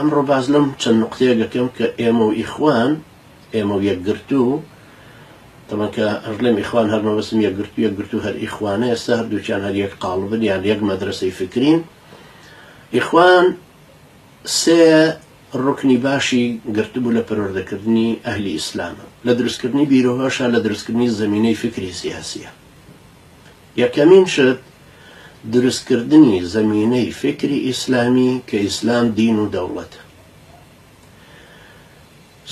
ئەمڕۆ باس لەم چەند نوقتەیە دەکەم کە ئێمە و ئیخوان، ئێمە و یەکگرتوو، تەمان کە هەرلێم ئیخوان هەر مەبەستم یەکگرتوو، یەکگرتوو هەر ئیخوانە، ئێستا هەردووکیان هەر یەک قاڵبن یان یەک مەدرەسەی فکرین. ئیخوان سێ ڕوکنی باشی گرتبوو لە پەروەردەکردنی ئەهلی ئیسلامە، لە دروستکردنی بیرۆهۆشە، لە دروستکردنی زەمینەی فکری سیاسیە. یەکەمین شت دروستکردنی زەمینەی فیکری ئیسلامی کە ئیسلام دین و دەوڵەتە.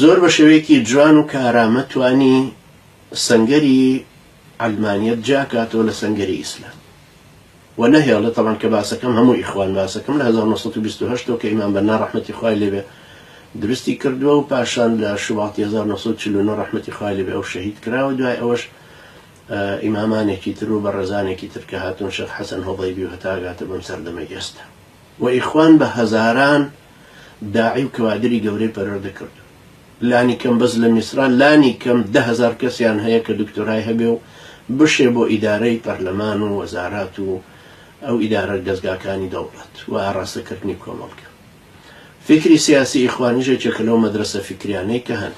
زۆر بە شێوەیەکی جوان و کارامە توانی سەنگەری عەلمانیەت جیا کاتەوە لە سەنگەری ئیسلام و نەهێڵێ تەبان کە باسەکەم هەموو ئیخوان باسەکەم لە هەزار و نۆ سەد و بیست و هەشت ەوە کە ئیمام بەننا ڕەحمەتی خوای لێ بێ دروستی کردووە و پاشان لە شوباتی هەزار و نۆ سەد و چل و نۆ ڕەحمەتی خوای لێ بێ ئەو شەهید کرا و دوای ئەوەش ئیمامانێکی تر و بەڕێزانێکی تر کە هاتوون شێخ حەسەن هۆبەیبی و هەتا ئەگاتە بەم سەردەمەی ئێستا و ئیخوان بە هەزاران داعی و کەوادری گەورەی پەروەردە کردوون لانی کەم بەس لە میسرا لانی کەم دە هەزار کەسیان هەیە کە دکتۆرای هەبێ و بشێ بۆ ئیدارەی پەرلەمان و وەزارات و ئەو ئیدارە دەزگاکانی دەوڵەت و ئاڕاستە کردنی کۆمەڵگە فیکری سیاسی ئیخوانیش یەکێکە لەو مەدرەسە فیکریانەی کە هەن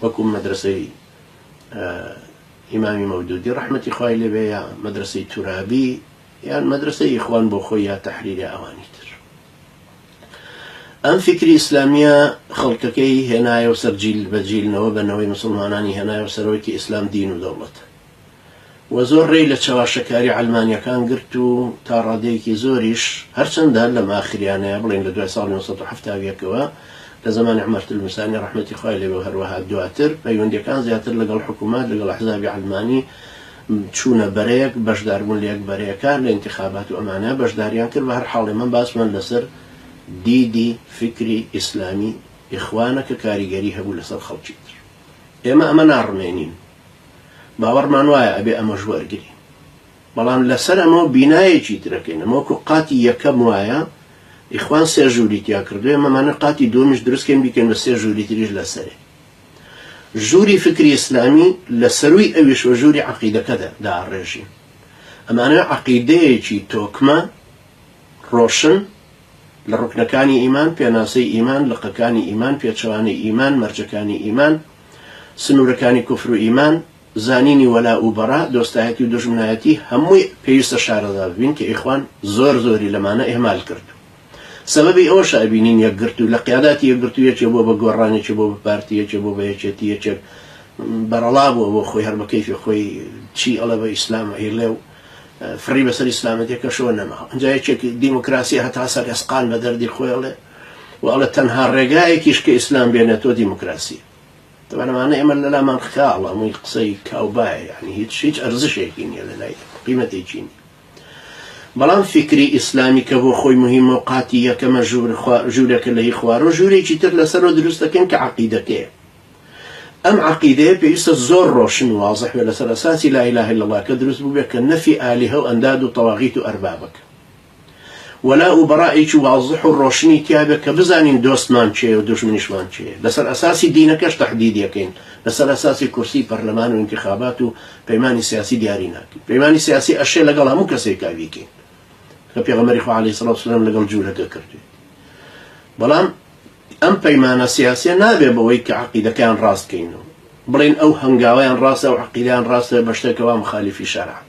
وەکو مەدرەسەی ئیمامی مەودودی ڕەحمەتی خوای لێ بێ یا مەدرەسەی تورابی یان مەدرەسەی ئیخوان بۆ خۆی یا تەحریری ئەوانی تر ئەم فکری ئیسلامیە خەڵکەکەی هێنایە و سەر جیل بە جیلنەوە بە نەوەی مسلمانانی هێنایە و سەرۆکی ئیسلام دین و دەوڵەت و زۆر ڕێی لە چەواشەکاری عەلمانییەکان گرت و تا ڕادەیەکی زۆریش، هەرچەندە لەم ئاخریانەیە، بڵێین لە دوای ساڵی نۆ سەد و حەفتا و یەک ەوە، لە زەمانی عومەر تلمسانی ڕەحمەتی خوای لێبێ و هەروەها دواتر، پەیوەندییەکان زیاتر لەگەڵ حکوومەت، لەگەڵ ئەحزابی عەلمانی چوونە بەرەیەک، بەشداربوون لە یەک بەرەیەکان، لە ئینتیخابات و ئەمانە بەشداریان کرد، بە هەر حاڵ ئێمە باسمان لەسەر دیدی فیکری ئیسلامی ئیخوانە کە کاریگەری هەبوو لەسەر خەڵکی تر. ئێمە ئەمە ناڕمێنین. باوەڕمان وایە ئەبێ ئەمەش وەرگری بەڵام لەسەر ئەمەوە بینایەکی ترەکەین ئەمە وەکو قاتی یەکەم وایە ئیخوان سێ ژووری تیا کردوێ مەمانە قاتی دومیش دروستکەین بیکەن بە سێ ژووری تریش لەسەرێ ژووری فکری ئیسلامی لە سەروی ئەویش و ژووری عقیدەکەدا داڕێژین ئەمانە عقیدەیەکی تۆکمە ڕۆشن لە ڕکنەکانی ئیمان پێناسەی ئیمان لقەکانی ئیمان پێچەوانەی ئیمان مەرجەکانی ئیمان سنوورەکانی کوفر و ئیمان، زانینی وەلاء و بەڕاء، دۆستایەتی و دوژمنایەتی، هەمووی پێویستە شارەزا ببین کە ئیخوان زۆر زۆری لەمانە ئیهمال کرد و سەبەبی ئەوەشە ئەبینین یەکگرتوو لە قیاداتی یەکگرتوو یەکێ بووە بە گۆڕان یەکێ بووە بە پارتی یەکێ بووە بە یەکێتی یەکێک بەرەڵا بووە بۆ خۆی هەر بە کەیفی خۆی چی ئەڵێ بە ئیسلام ئەیڵێ و فڕی بەسەر ئیسلامەتێکەشەوە نەماوە ئەنجا یەکێک دیموکراسی هەتا سەر ئێسقان بە دەردی خۆی ئەڵێ وەڵێ تەنها ڕێگایەکیش کە ئیسلام بێنێتەوە دیموکراسی تەبەن ئەمانە ئێمە لەلامان خاڵە هەمووی قسەی کاوبایە یعنی هیچ هیچ ئەرزشێکی نییە لە لای قیمەتێکی نیە بەڵام فیکری ئیسلامی کە بۆ خۆی مهمە و قاتی یەکەمە ژوور ژوورەکە لە هی خوارۆ ژوورێکی تر لەسەرەوە دروست دەکەن کە عقیدەکەیە ئەم عقیدەیە پێویستە زۆر ڕۆشن وازح بێ لەسەر ئەساسی لا اله الا الله کە دروست بووبێ کە نەفی ئالیهە و ئەنداد و تەواغیت و ئەربابەکە وەلا و بەرائێکی وازح و ڕۆشنی تیابێ کە بزانین دۆستمان کێیە و دوژمنیشمان کێیە، لەسەر ئەساسی دینەکەش تەحدید یەکەین، لەسەر ئەساسی کورسی پەرلەمان و ئینتیخابات و پەیمانی سیاسی دیاری ناکەین، پەیمانی سیاسی ئەشێ لەگەڵ هەموو کەسێکا بیکەین کە پێغەمبەری خوا علیە سڵات وسلام لەگەڵ جولەکە کردوێت، بەڵام ئەم پەیمانە سیاسیە نابێ بەوەی کە عەقیدەکەیان ڕاست کەین و بڵێین ئەو هەنگاوەیان ڕاستە و عەقیدەیان ڕاستە بەشتێکەوە مخالیفی شەرعە.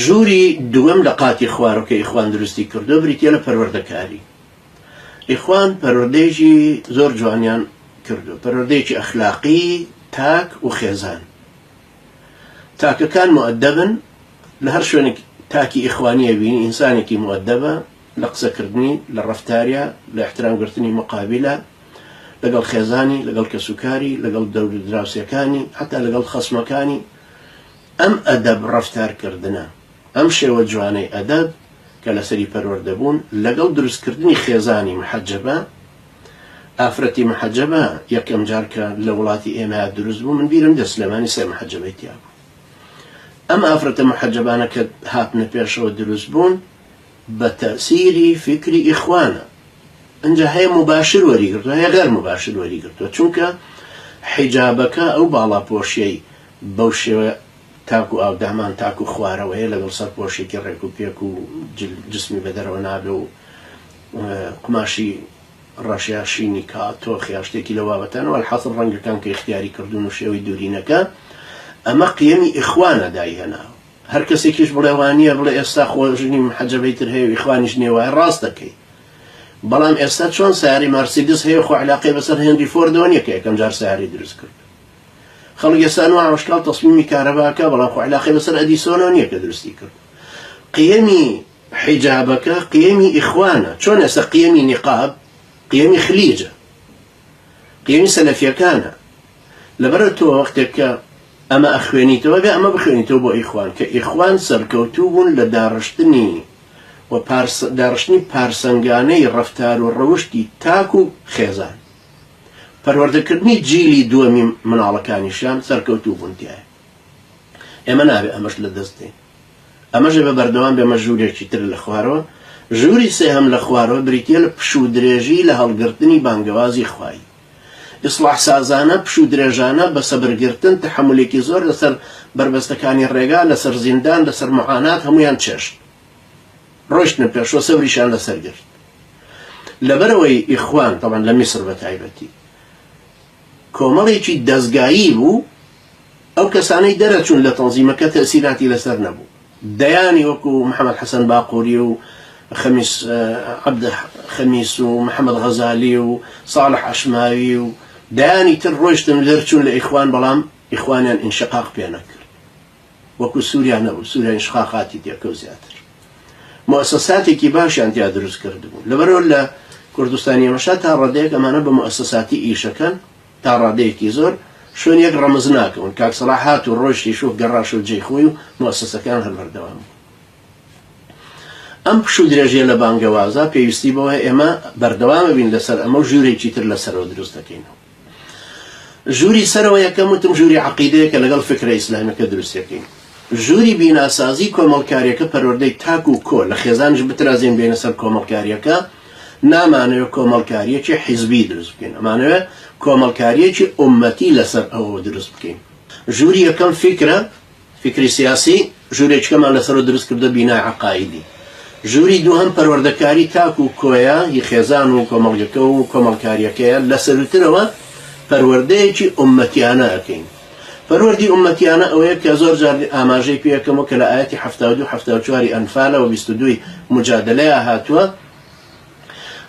ژووری دووەم لە قاتی خوارەوە کە ئیخوان دروستی کردووە بریتییە لە پەروەردەکاری. ئیخوان پەروەردەیەکی زۆر جوانیان کردووە، پەروەردەیەکی ئەخلاقی تاک و خێزان. تاکەکان موئەدەبن، لە هەر شوێنێک تاکی ئیخوانی ئەبینی ئینسانێکی موئەدەبە، لە قسەکردنی، لە ڕەفتاریا، لە ئیحترامگرتنی موقابیلا، لەگەڵ خێزانی، لەگەڵ کەسوکاری، لەگەڵ دەورودراوسێکانی، حەتا لەگەڵ خەسمەکانی. ئەم ئەدەب ڕەفتار کردنە، ئەم شێوە جوانەی ئەدەب کە لەسەری پەروەردە بوون، لەگەڵ دروست کردنی خێزانی محەجەبە، ئافرەتی محەجەبە یەکەم جار کە لە وڵاتی ئێمەیا دروست بوو من بیرم دێت سلێمانی سێ محەجەبەی تیا بوو. ئەم ئافرەتە محەجەبانە کە هاتنە پێشەوە دروست بوون بە تەئسیری فیکری ئیخوانە. ئینجا هەیە موباشر وەری گرتوە هەیە غەر موباشر وەری گرتوە چونکە حیجابەکە ئەو باڵاپۆشیەی بەو شێوە تاک و ئاودامان تاک و خوارەوەیە لەگەڵ سەرپۆشێکی ڕێک و پێک و جسمی بە دەرەوە نابێ و قوماشی ڕەش یا شینی کا تۆخ یا شتێکی لەو بابەتانە وەلحاسڵ ڕەنگەکان کە ئیختیاری کردوون و شێوەی دوورینەکە ئەمە قیەمی ئیخوانە دای هێناوە هەر کەسێکیش بڵێ وا نییە بڵێ ئێستا خۆ ژنی محەجەبەی تر هەیە و ئیخوانیش نییە وایە ڕاست دەکەی بەڵام ئێستا چۆن سەیارەی مارسیدس هەیە خۆ عەلاقەی بەسەر هێنری فۆردەوە نییە کە یەکەم جار سەیارەی دروست کرد خەڵک ئێستا نۆ ڕۆژکاڵ تەسمیمی کارەباکە بەڵام خۆ علاقەی بەسەر ئەدیسۆنەوە نیە کە دروستی کرد قیەمی حیجابەکە قیەمی ئیخوانە چۆن ئێستا قیەمی نیقاب قیەمی خلیجە قیەمی سەلەفیەکانە لەبەرە تۆ وەختێک کە ئەمە ئەخوێنیتەوە بێ ئەمە بخوێنیتەوە بۆ ئیخوان کە ئیخوان سەرکەوتوو بوون لە داڕشتنی و پارس داڕشتنی پارسەنگانەی ڕەفتار و ڕەوشتی تاک و خێزان پەروەردەکردنی جیلی دووەمی مناڵەکانیشیان سەرکەوتوو بوون تیایا ئێمە نابێ ئەمەش لە دەست دەین ئەمەش ئێمە بەردەوام بێمە ژوورێکی تر لە خوارەوە ژووری سێهەم لە خوارەوە بریتیە لە پشوو درێژی لە هەڵگرتنی بانگەوازی خوایی ئیسڵاح سازانە پشوو درێژانە بە سەبرگرتن تەحەمولێکی زۆر لەسەر بەربەستەکانی ڕێگا لەسەر زیندان لەسەر معانات هەموویان چێشت ڕۆشتنە پێشەوە سەوریشان لەسەر گرت لەبەرەوەی ئیخوان تەبەن لە میسر بە تایبەتی کۆمەڵێکی دەستگایی بوو ئەو کەسانەی دەرەچوون لە تەنزیمەکە تەسیراتی لەسەر نەبوو دەیانی وەکو محەممەد حەسەن باقووری و خەمیس عبد خەمیس و محەممەد غەزالی و ساڵح عشماوی و دەیانی تر ڕۆشتن لەرچوون لە ئیخوان بەڵام ئیخوانیان ئینشقاق پێ نەکرد وەکو سوریا نەبوو سوریا ئینشقاقاتی تێکەوت زیاتر موسەساتێکی باشیان تیا دروست کردبوو لەبەرەوە لە کوردستانی ئێمەشا تا ڕادەیەک ئەمانە بە موسەساتی ئیشەکەن تا ڕادەیەکی زۆر شوێن یەک ڕەمز ناکەون کاک سەڵاح هات و ڕۆشتی شوف گەڕاش و جێی خۆی و موسەسەکان هەر بەردەوام بوو ئەم پشو درێژە لە بانگەوازە پێویستی بەوە ئێمە بەردەوامە بین لەسەر ئەمە و ژوورێکی تر لەسەرەوە دروست دەکەینەوە ژووری سەرەوە یەکەم وتم ژووری عەقیدەیەکە لەگەڵ فکرە ئیسلامیەکە دروستیەکەین. ژووری بیناسازی کۆمەڵکاریەکە پەروەردەی تاک و کۆ لە خێزانیش بترازێین بێینە سەر کۆمەڵکاریەکە نامانەوێ کۆمەڵکاریەکی حیزبی دروست بکەین ئەمانەوێ کۆمەڵکاریەکی ئومەتی لەسەر ئەوەوە دروست بکەین. ژووری یەکەم فیکرە. فیکری سیاسی، ژوورێکیکەمان لەسەرەوە دروست کردووە، بینای عەقائیدی. ژووری دووهەم پەروەردەکاری تاک و کۆیە ی خێزان و کۆمەڵگەکە و کۆمەڵکارییەکەیە، لەسەرووترەوە پەروەردەیەکی ئوممەتییانە ئەکەین. پەروەردی ئوممەتییانە ئەوەیە کە زۆر جار ئاماژەی پێ ئەکەم و کە لە ئایەتی حەفتا و دوو حەفتا و چوار ی ئەنفالە و بیست و دوو ی موجادەلەیا هاتووە،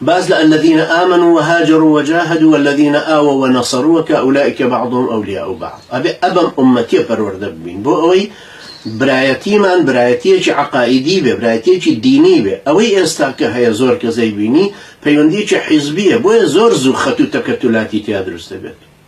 باس لە الذین آمنوا وهاجروا وجاهدوا والذین آووا ونصروا کە اولئک بعضهم اولیاء بعض ئەبێ ئەبەم ئومەتیە پەروەردە ببین بۆ ئەوەی برایەتیمان برایەتیەکی عەقائیدی بێ برایەتیەکی دینی بێ ئەوەی ئێستا کە هەیە زۆر کەس ئەیبینی پەیوەندیەکی حیزبیە بۆیە زۆر زوو خەت و تەکەتولاتی تیا دروست دەبێت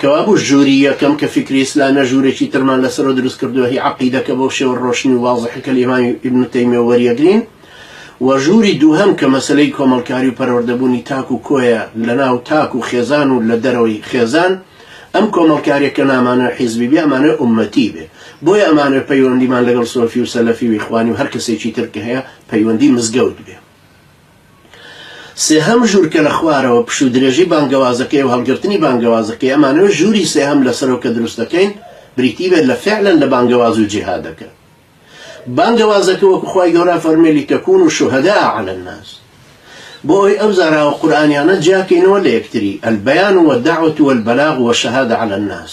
کەوابوو ژووری یەکەم کە فیکری ئیسلامە ژوورێکی ترمان لەسەرەوە دروست کردووە هی عەقیدە کە بەو شێوە ڕۆشن و وازحە کە لە ئیمامی ئیبن تەیمیەوە وەریەگرین و ژووری دووهەم کە مەسەلەی کۆمەڵکاری و پەروەردەبوونی تاک و کۆیە لە ناو تاک و خێزان و لە دەرەوەی خێزان ئەم کۆمەڵکاریە کە نامانەوێ حیزبی بێ ئەمانەوێ ئوممەتی بێ بۆیە ئەمانەوێ پەیوەندیمان لەگەڵ سۆفی و سەلەفی و ئیخوانی و هەر کەسێکی تر کە هەیە پەیوەندی مزگەوت بێ. سێهەم ژوور کە لە خوارەوە پشت و درێژی بانگەوازەکەی و هەڵگرتنی بانگەوازەکەی ئەمانەوێت ژووری سێهەم لەسەرەوە کە دروست دەکەین بریتی بێت لە فعلا لە بانگەواز و جیهادەکە بانگەوازەکە وەکو خوای گەورە فەرمی لیتەکون شهداء علی الناس بۆ ئەوی ئەو زاراوە قورئانیانە جیاکەینەوە لە یەکتری البیان والدعوة والبلاغ والشهادة علی الناس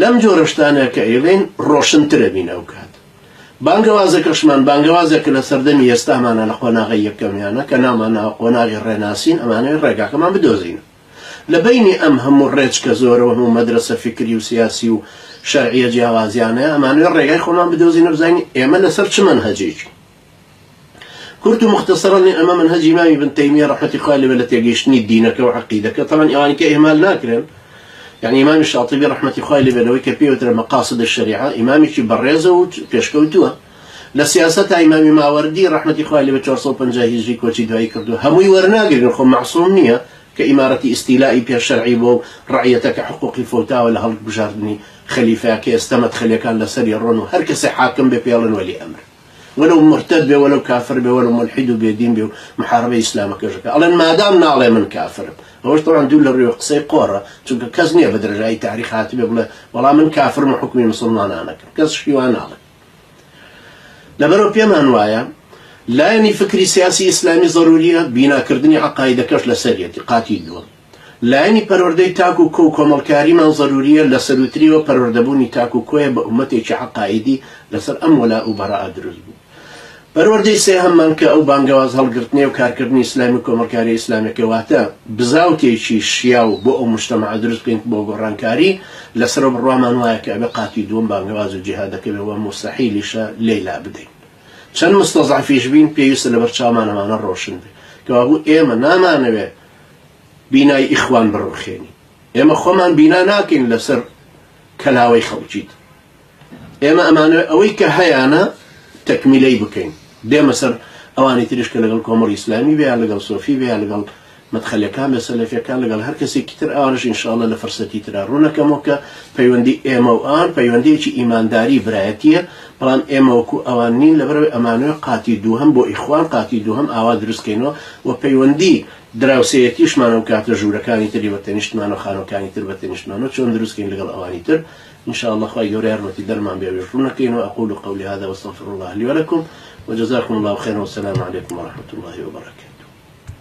لەم جۆرە شتانە کە ئەیڵێین ڕۆشنترە بین ئەوکات بانگەوازەکەشمان بانگەوازە کە لە سەردەمی ئێستامانە لە قۆناغەی یەکەمیانە کە ناومان ناوە قۆناغی ڕێناسین ئەمانەوێ ڕێگاکەمان بدۆزین لە بەینی ئەم هەموو ڕێچکە زۆرە و هەموو مەدرەسە فیکری و سیاسی و شەرعیە جیاوازیانەیە ئەمانەوێ ڕێگای خۆمان بدۆزینە بزانین ئێمە لەسەر چ مەنهەجێکی کورت و موختەسەرەن لێ ئەمە مەنهەجی مامی ابن تەیمیە ڕەحمەتی خوای لێ بێت لە تێگەیشتنی دینەکە و عەقیدەکە تەبعەن ئەوانی کە ئیهمال ناکرێن یانی مامی شاطبی ڕەحمەتی خوای لێ بێت لەوەی کە پێی وترێ مەقاصد الشریعە ئیمامێکی بەڕێزە و پێشکەوتووە لە سیاسەتا ئیمامی ماوەردی ڕەحمەتی خوای لێ بێت 450 هیجری کۆچی دوایی کردووە هەمووی وەرناگرن خۆ مەعسوم نییە کە ئیمارەتی ئیستیلائی پێ شەرعی بووە و ڕەعیەتە کە حقوقی فەوتاوە لە هەڵگبژاردنی خەلیفەکەیە ستە مەدخەلیەکان لەسەری ڕۆن و هەر کەسێ حاکم بێ پێڵێن وەلی ئەمر وەلەو مورتەد بێ وەلەو کافر بێ وەلەو مولحید و بێدین بێ و محاربەی ئیسلامەکەش ئەکا ئەڵێن مادام ناڵێ من کافرم ئەوەش تەبعەن دوور لە ڕووی و قسەی قۆڕە چونکە کەس نیە بە درێژایی تاریخ هاتبێ بڵێ وەڵا من کافرم و حوکمی مسوڵمانان ئەکەم کەس شتی وا ناڵێ لەبەرەو پێمان وایە لایەنی فکری سیاسی ئیسلامی ضروریە بیناکردنی عەقایدەکەش لەسەریەتی قاتی دووەم لایەنی پەروەردەی تاک و کۆ و کۆمەڵکاریمان زەرورییە، لە سەرووتریەوە پەروەردەبوونی تاک و کۆیە بە ئوممەتێکی عەقائیدی لەسەر ئەم وەلاء و بەراء دروست بوو. پەروەردەی سێهەممان کە ئەو بانگەواز هەڵگرتنەی و کارکردنی ئیسلامی و کۆمەڵکارییە ئیسلامیەکە واتە بزاوتێکی شیاو بۆ ئەو موجتەمەعە دروست بکەین بۆ گۆڕانکاری، لەسەرەوە بڕوامان وایە کە ئەبێ قاتی دووەم بانگەواز و جیهادەکە بێ و موستەحیلیشە لێی لابدەین. چەند موستەزعەفیش بین پێویستە لەبەرچاومان ئەمانە ڕۆشن بێ کەوابوو ئێمە نامانەوێ بینای ئیخوان بڕوخێنی ئێمە خۆمان بینا ناکەین لەسەر کەلاوەی خەڵکیت ئێمە ئەمانە ئەوەی کە هەیانە تەکمیلەی بکەین دێمە سەر ئەوانی تریش کە لەگەڵ کۆمەڵی ئیسلامی بێ لەگەڵ سۆفی بێ لەگەڵ مەدخەلەکان بە سەلەفەکان لەگەڵ هەر کەسێکی تر ئاوارش انشاءاللە لە فرسەتی ترا ڕوونەکەمەوە کە پەیوەندی ئێمە و ئان پەیوەندیەکی ئیمانداری برایەتیە بەڵام ئێمەوەکو ئەوان نین لەبەرەوەی ئەمانوێ قاتی دووهم بۆ ئیخوان قاتی دووهم ئاوا دروستکەینەوە و پەیوەندی دراوسێیەتیشمان و کاتە ژوورەکانی تری بە تەنیشتمان و خانوەکانی تر بە تەنیشتمان و چۆن دروست کەین لەگەڵ ئەوانی تر ان شاء اللە خوای گەورە یارمەتی دەرمان بێ ئەویش ڕوو نەکەین و اقول قولی هذا واستغفر اللە لی ولکم وجزاکم اللە خیرا والسلام علیکم ورحمة اللە وبرکاته.